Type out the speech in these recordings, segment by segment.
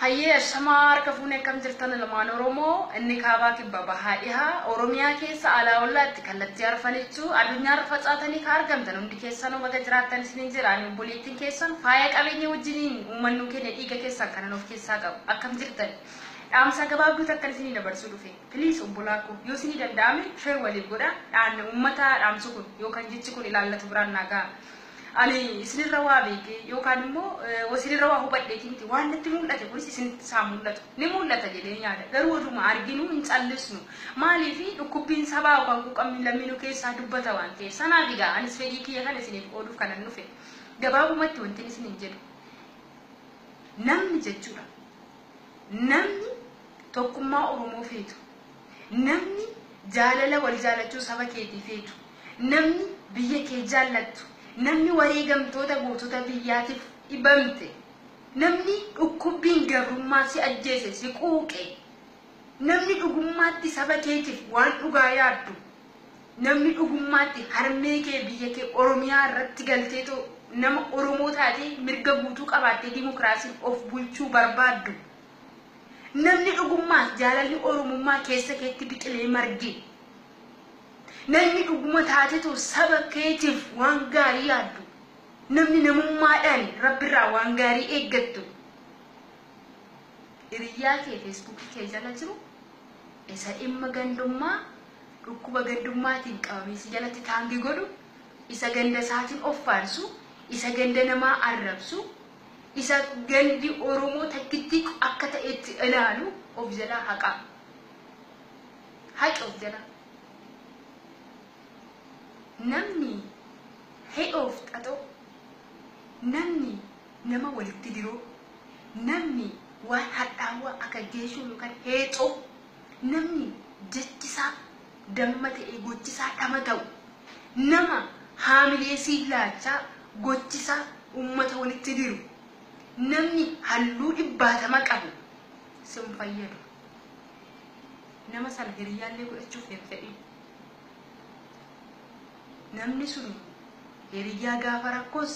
Hayyee ashamaa harka fuune akkam jirtan ilmaan Oromoo inni kaabaa kibba bahaa dhihaa Oromiyaa keessa alaa ollaatti kallattii arfanichuu adunyaarra facaatanii ka argamtan hundi keessanuu baga jiraattan isiniin jedha ani obboleettiin keessan faaya qabeenya wajjiniin uumannuu keenya dhiiga keessan kanan of keessaa qabu akkam jirtan dhaamsaa gabaabduu takkan isinii dabarsuu dhufe please obbolaa koo yoo isinii danda'ame share waliif godha dhaanna uummataa dhaamsu kun yookan jechi kun ilaallatu biraan naa ga'a Ani isinirra waa beekee yookaan immoo isinirra waa hubadheetii miti. Waan natti mul'ate kunis isinittis haa mul'atu. Ni mul'ata jedheen yaada. Garuu oduma arginu hin callisnu. Maaliif dhukkubbiin sabaa yookaan quuqamni lammii nu keessaa dubbata waan ta'eef. Sanaaf egaa anis fedhii kiyya kana isiniif qooduuf kanan dhufe. Gabaabumatti wantin isiniin jedhu namni jechuudha namni tokkummaa Oromoo feetu, namni jaalala wal jaalachuu saba keetii feetu, Namni biyya kee jaallattu, namni wareegamtoota gootota biyyaatiif dhibamte, namni dhukkubbiin gabrummaa si ajjeese, si quuqe, namni dhugummaatti saba keetiif waan dhugaa yaaddu, namni dhugummaatti harmee kee biyya kee Oromiyaa irratti galteetoo nama Oromoo taatee mirga guutuu qabaattee dimokiraasiin of bulchuu barbaaddu, namni dhugummaas jaalalli Oromummaa keessa keetti biqilee marge, Namni dhuguma taatetu saba keetiif waan gaarii yaaddu, namni namummaadhaan Rabbirraa waan gaarii eeggattu, hiriyyaa kee Facebook kee jala jiru, isa dhimma gandummaa, dhukkuba gandummaatiin qabamee si jalatti taangi godhu, isa ganda isaatiin of faarsu, isa ganda namaa arrabsu, isa gandi Oromoo takkittii akka ta'etti ilaalu of jalaa haqaa. Hac of jala Namni heof xaxoo Namni nama walitti diroo Namni waan hadhaawwaa aka geeshoo yokan heexoo Namni jechisaa damma ta'ee gochisaa dhama ta'u Nama haamilee siif laachaa gochisaa ummata walitti diru Namni halluu dhibbaatama qabu sin fayyadu. Nama sana hiriyyaa illee godhachuuf hin fedhin. Namni sun hiriyyaa gaafa rakkoos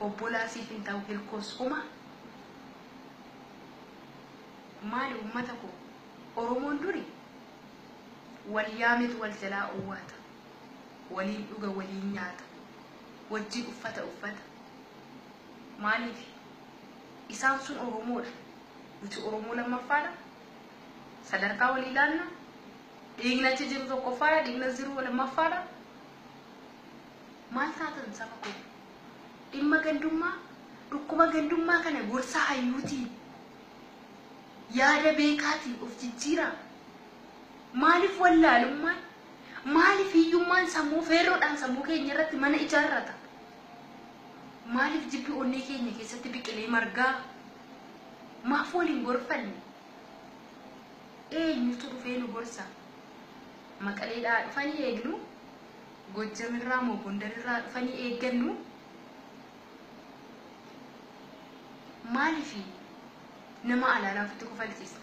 obbolaa siif hin ta'u hirkoos homa. Maali uummata koo Oromoon duri wal yaametu wal jalaa owwaata. Waliin dhuga waliin nyaata. Wajjin uffata uffata. Maaliif? Isaan sun Oromoodha. Nuti Oromoo lammaffaadha. Sadarkaa walii laanna. Dhiigni achi jiru tokkoffaadha. Dhiigni as jiru lammaffaadha. Maal taatan saba koo? Dhimma gandummaa, dhukkuba gandummaa kana gorsa hayyuutiin, yaada beekaatiin of jijjiiraa. Maaliif wallaalummaan, maaliif hiyyummaan sammuu feerroodhaan sammuu keenya irratti mana ijaarrata? Maaliif jibbi onnee keenya keessatti biqilee margaa? Maaf wal hin gorfanne? Eenyutu dhufee nu gorsa? Maqaleedhaa dhufanii eegnu? Gojjamirraa moo Gondarirraa dhufanii eeggannu? Maaliif nama alaalaa ofitti kofalchiisna?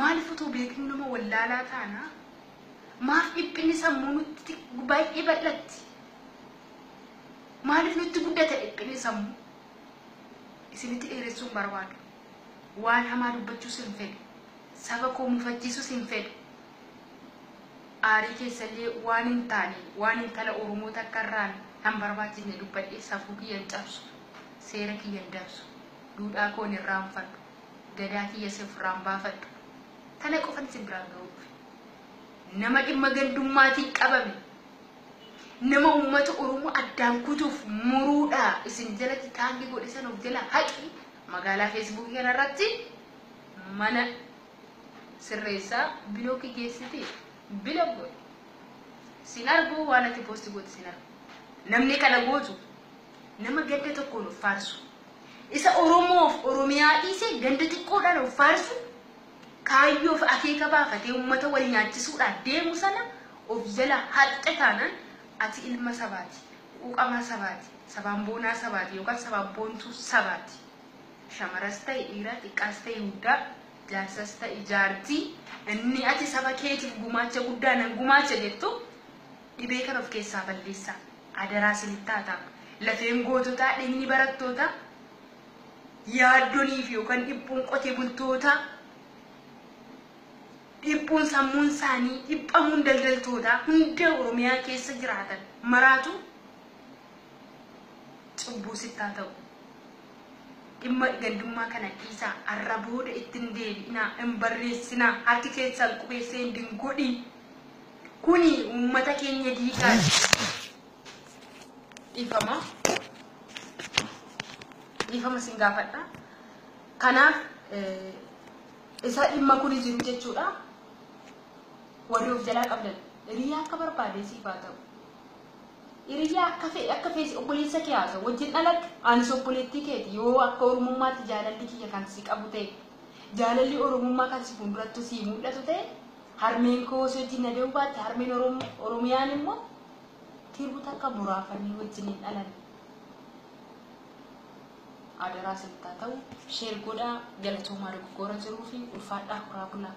Maaliif utuu beeknuu nama wallaalaa taana? Maaf dhiphinni sammuu nutti baay'ee bal'atti? Maaliif nutti guddata dhiphinni sammuu? Isinitti dheeressuun barbaadu. Waan hamaa dubbachuus hin fedhu. Saba koo mufachiisuus hin fedhu. Aarii keessallee waan hin taane, waan intala Oromoo takka irraan nan barbaachifne dubbadhee safuu kiyya hin cabsu. Seera kiyya hin dabsu. Duudhaa koo hin irraanfadhu. Gadaa kiyyas of irraa hin baafadhu. Kana qofan isin biraan ga'uu dhufe. Nama dhimma gandummaatiin qabame, nama uummata Oromoo addaan kutuuf muruudha isin jalatti taangi godhe sana of jalaa haqi magaalaa feesbuukii kana irratti mana sirreessaa bilookii geessiti bilook godhi. Sin argu waan ati poosti goote sin argu. Namni kana gootu Nama gadda tokkoon of faarsu. Isa Oromoof Oromiyaa dhiisee ganda xiqqoodhaan of faarsu, kaayyoof akeeka baafatee ummata wal nyaachisuudhaaf deemu sana of jala haqxe taanaan ati ilma sabaati, quuqamaa sabaati, sabaan boonaa sabaati yookaan sabaan boontuu sabaati. Shamaras ta'e dhiira, xiqqaas ta'e guddaa, jaarsas ta'e jaartii inni ati saba keetiif gumaacha guddaa nan gumaacha jettu dhibee kana of keessaa balleessaa. Adaraa isinitti haa ta'u. Lafeen goototaa, dhigni barattootaa, yaaddonii fi yookaan dhiphuun qotee bultootaa, dhiphuun sammuun isaanii, dhiphamuun daldaltootaa hunda Oromiyaa keessa jiraatan maraatu cubbuu sitti haa ta'u. Dhimma gandummaa kana dhiisaa har'a booda itti hin deebi'inaa, hin barreessinaa, harki keessan qubeessee hin dingodhin. Kuni uummata keenya diigaa jira. Dhiifama. Dhiifama sin gaafadha. Kanaaf isa dhimma kuni jiru jechuudha. Warri of jalaa qabdan hiriyaa akka barbaade siif haa ta'u. Hiriyaa akka fedhe akka feesi obboleessa kee haa ta'u wajjin dhalatte anis obboleettii keeti yoo akka oromummaatti jaalalli kiyya kan si qabu ta'e jaalalli oromummaa kan si fuuldurattu si mul'atu ta'e Harmeen koo si wajjin na dee'uu baatte harmeen Oromoo Oromiyaan immoo tiruu takka muraafanii wajjin hin dhalan. Adaraa isinitti haa ta'u sheer godhaa galatoomaa dogoggoora jiruu fi ulfaadhaa horaa bulaa.